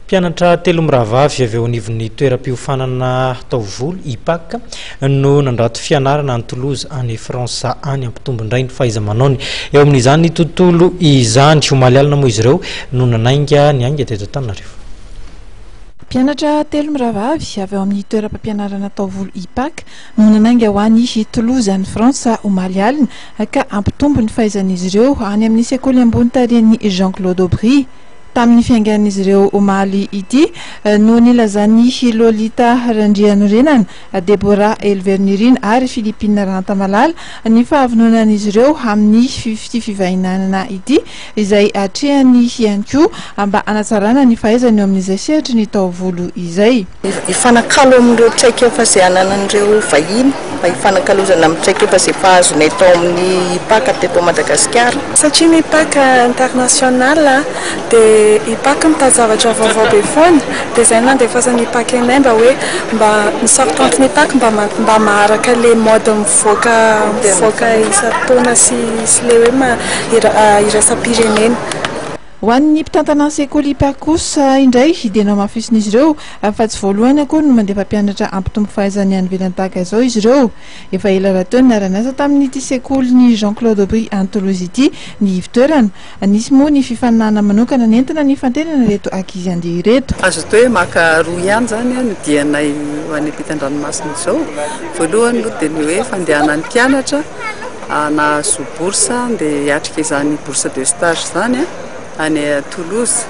Mpianatra telo mirahavavy avy eo anivon'ny toeram-piofanana taovolo, IPAC, no nandrato fianarana any Toulouse, any Frantsa any, hampitombo indray ny fahaiza-manaony eo amin'izany tontolo izany. Omaly alina moa izy ireo no nanainga ny ainga teto Antananarivo. Mpianatra telo mirahavavy avy ao amin'ny toeram-pampianarana taovolo IPAC no nanainga ho any Toulouse, any Frantsa, omaly alina, ka hampitombo ny fahaizan'izy ireo any amin'ny sekoly ambony tarihan'i Jean Claude Aubry. Tamin'ny fiaingan'izy ireo omaly ity no nilazan'i Lolita Randrianorenana, Deborah Helvernirina ary Philippine Rantamalala ny fahavononan'izy ireo amin'ny ity fifaninanana ity izay atrehany ihany koa mba hanatsarana ny fahaizany eo amin'izay sehatry ny taovolo izay. Hifanakalo amin'ireo traikefa izay ananan'ireo vahiny mba hifanakalozana amin'ny traikefa izay efa azonay tao amin'ny IPAC teto Madagasikara. Satria ny IPAC international dia IPAC mitady zavatra vaovao be foana dia izay no nandefasan'ny IPAC anay mba hoe mba misort anto ny IPAC mba mba maharaka ilay mode mivoaka mivoaka isan-taona sy sy ilay hoe irasam-pirenena. Ho an'ny mpitantana ny sekoly IPAK kosa indray dia nohamafisin'izy ireo fa tsy voalohany akory no mandeha mpampianatra hampitombo fahaizany any ivelany tahaka izao izy ireo. Efa ela rahateo no niara-niasa tamin'ity sekolin'i Jean Claude Aubry any Toulouse ity ny ivo-toerana. Nisy moa ny fifaninanana manokana nentina nifantenana ireto ankizy handeha ireto. Azo atao hoe maka roa ihany izany ny dianay ho any ampitan-dranomasina izao. Voalohany aloha dia ny hoe fandehana any mpianatra. nahazo bourse dia hiatrika izany bourse de stage izany any Toulouse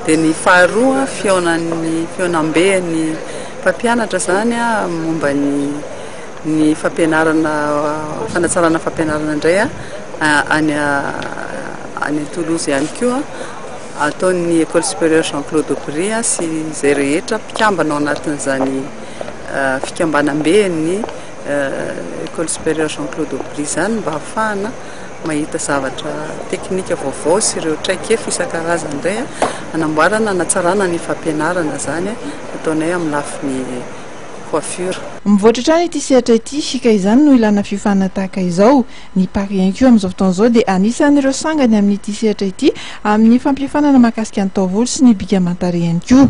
dia ny faharoa fihaonan'ny fihaonamben'ny mpampianatra izany momba ny ny fampianarana fanatsarana fampianarana indray any any Toulouse ihany koa ataon'ny école supérieure Jean Claude Aubry sy izay rehetra mpikambana ao anatin'izany fikambanamben'ny Ecole Supérieure Jean Claude Aubry izany mba hahafahana mahita zavatra teknika vaovao sy ireo traikefa isan-karazany indray hanamboarana, hanatsarana ny fampianarana izany ataonay amin'ny lafiny coiffure. Mivoatra hatrany ity sehatra ity ka izany no ilana fiofana tahaka izao. Ny Paris Incu amin'izao fotoana izao dia anisan'ireo sangany amin'ity sehatra ity amin'ny fampiofanana mahakasika ny taovolo sy ny bika aman-tarehy ihany koa.